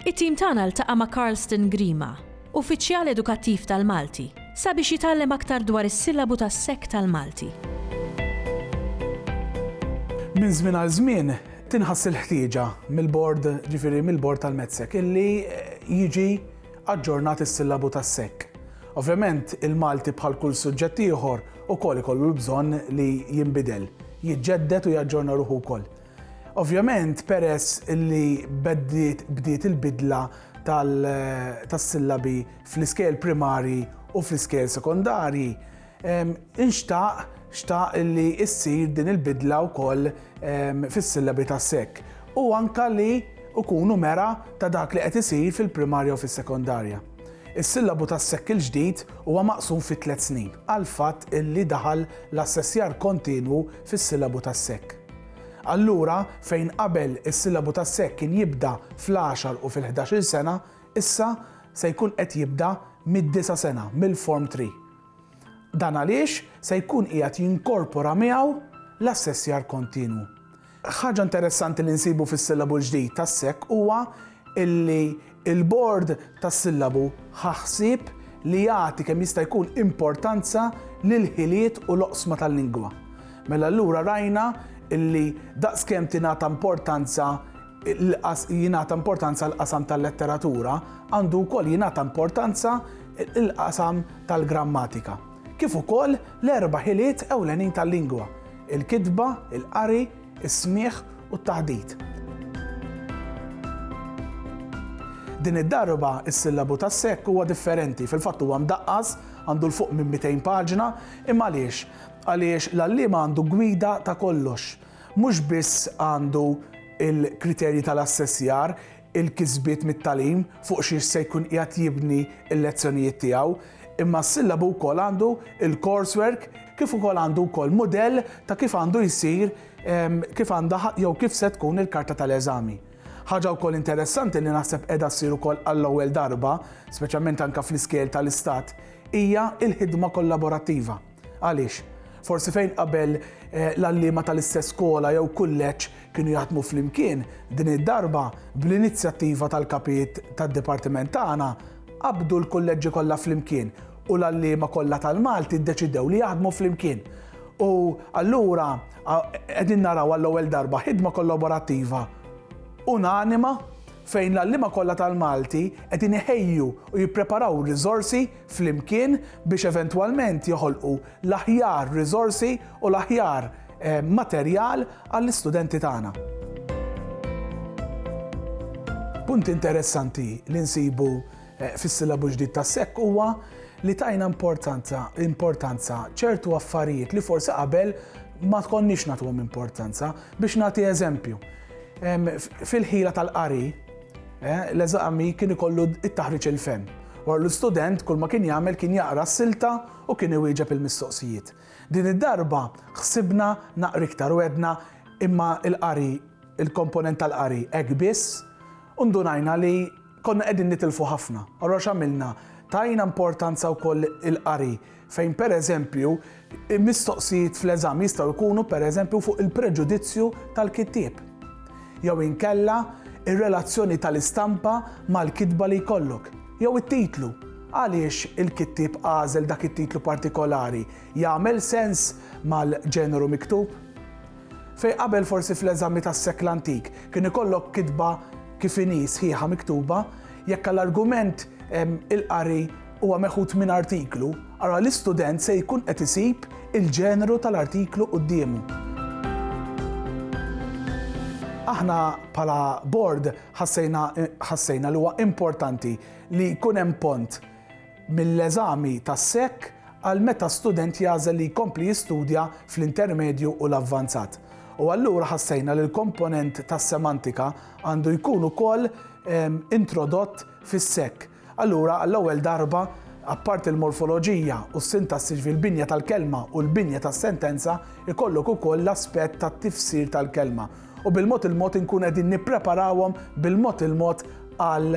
It-tim tagħna ltaqa' ma' Carlston Grima, Uffiċjal Edukattiv tal-Malti, sabiex jitgħallem aktar dwar is-sillabu tas-sekk tal-Malti. Minn żmien għal żmien tinħass il-ħtieġa mill-Bord, ġifieri mill-Bord tal-MedSec, illi jiġi aġġornat is-sillabu tas-sekk. Ovvjament, il-Malti bħal kull suġġett ieħor ukoll ikollu l-bżonn li jinbidel, jiġġedded u jaġġorna ruħu wkoll. Ovvjament peress li bdiet il-bidla tas-sillabi fl-iskejjel primarji u fl-iskejjel sekondarji, inxtaq, xtaq li ssir din il-bidla wkoll fis-sillabi tas-sec u anke li jkunu mera ta' dak li qed isir fil-primarja u fis-sekondarja. Is-sillabu tas-sec il-ġdid huwa maqsum fi tliet snin għall-fatt li daħal l-assessjar kontinwu fis-sillabu tas-sec. Allura, fejn qabel is-sillabu tas-sekk kien jibda fl-għaxar u fil-ħdax-il sena, issa se jkun qed jibda mid-disa' sena, mill-Form Three. Dan għaliex se jkun qiegħed jinkorpora miegħu l-assessjar kontinwu. Ħaġa interessanti li nsibu fis-sillabu l-ġdid tas-sekk huwa li Il-Bord tas-Sillabu ħa ħsieb li jagħti kemm jista' jkun importanza lill-ħiliet u l-oqsma tal-lingwa. Mela allura rajna li daqskemm tingħata importanza jingħata importanza l-qasam tal-letteratura, għandu wkoll jingħata importanza l-qasam tal-grammatika. Kif ukoll l-erba' ħiliet ewlenin tal-lingwa, il-kitba, il-qari, is-smigħ u t-taħdit. Din id-darba is-sillabu tas-sekk huwa differenti, fil-fatt huwa mdaqqas, għandu 'l fuq minn 200 paġna, imma għaliex? Għaliex l-għalliem għandu gwida ta' kollox. Mhux biss għandu l-kriterji tal-assessjar, il-kisbiet mit-tagħlim fuq xiex se jkun qiegħed jibni l-lezzjonijiet tiegħu, imma s-sillabu wkoll għandu l-coursework kif ukoll għandu wkoll mudell ta' kif għandu jsir kif għandha jew kif se tkun il-karta tal-eżami. Ħaġa wkoll interessanti li naħseb qiegħda ssir ukoll għall-ewwel darba, speċjalment anke fl-iskejjel tal-istat, hija l-ħidma kollaborattiva. Għaliex? Forsi fejn qabel eh, l-għalliema tal-istess skola jew kulleġġ kienu jaħdmu flimkien, din id-darba bl-inizjattiva tal-kapijiet tad-dipartiment tagħna qabdu l-kulleġġi kollha flimkien u l-għalliema kollha tal-Malti ddeċidew li jaħdmu flimkien. U allura qegħdin naraw għall-ewwel darba ħidma kollaborattiva unanima fejn l-għalliema kollha tal-Malti qed iħejju u jippreparaw riżorsi flimkien biex eventwalment joħolqu l-aħjar riżorsi u l-aħjar materjal għall-istudenti tagħna. Punt interessanti li nsibu fis-silabu ġdid tas-SEK huwa li tajna importanza importanza ċertu affarijiet li forsi qabel ma tkonniex nagħtuhom importanza. Biex nagħti eżempju, fil-ħila tal-qari, Eh, l-eżami kien ikollu it-taħriġ il-fem. Wara l-istudent kull ma kien jagħmel kien jaqra s-silta u kien iwieġeb il-mistoqsijiet. Din id-darba ħsibna naqra iktar u għedna imma il-qari, il-komponent tal-qari hekk biss, u ndunajna li konna qegħdin nitilfu ħafna. Allura x'għamilna? Tajna importanza wkoll il-qari fejn pereżempju mistoqsijiet fl-eżam jistgħu jkunu pereżempju fuq il-preġudizzju tal-kittieb jew inkella r-relazzjoni tal-istampa mal-kitba li jkollok jew it-titlu. Għaliex il-kittieb għażel dak it-titlu partikolari? Jagħmel sens mal-ġeneru miktub? Fejn qabel forsi fl-eżami tas-sekl antik kien ikollok kitba kif inhi sħiħa miktuba, jekk għal argument il-qari huwa meħud minn artiklu, allura l-istudent se jkun qed isib il-ġeneru tal-artiklu quddiemu. Aħna bħala Bord ħassejna ħassejna li huwa importanti li jkun hemm pont mill-eżami tas-SEC għal meta student jagħżel li jkompli jistudja fl-intermedju u l-avvanzat. U allura ħassejna li l-komponent tas-semantika għandu jkun ukoll introdott fis-SEC. Allura għall-ewwel darba apparti il-morfoloġija u s-sintassi fil-binja tal-kelma u l-binja tas-sentenza, ikollok ukoll l-aspett tat-tifsir tal-kelma. U bil-mod il-mod inkun qegħdin nippreparawhom bil-mod il-mod għal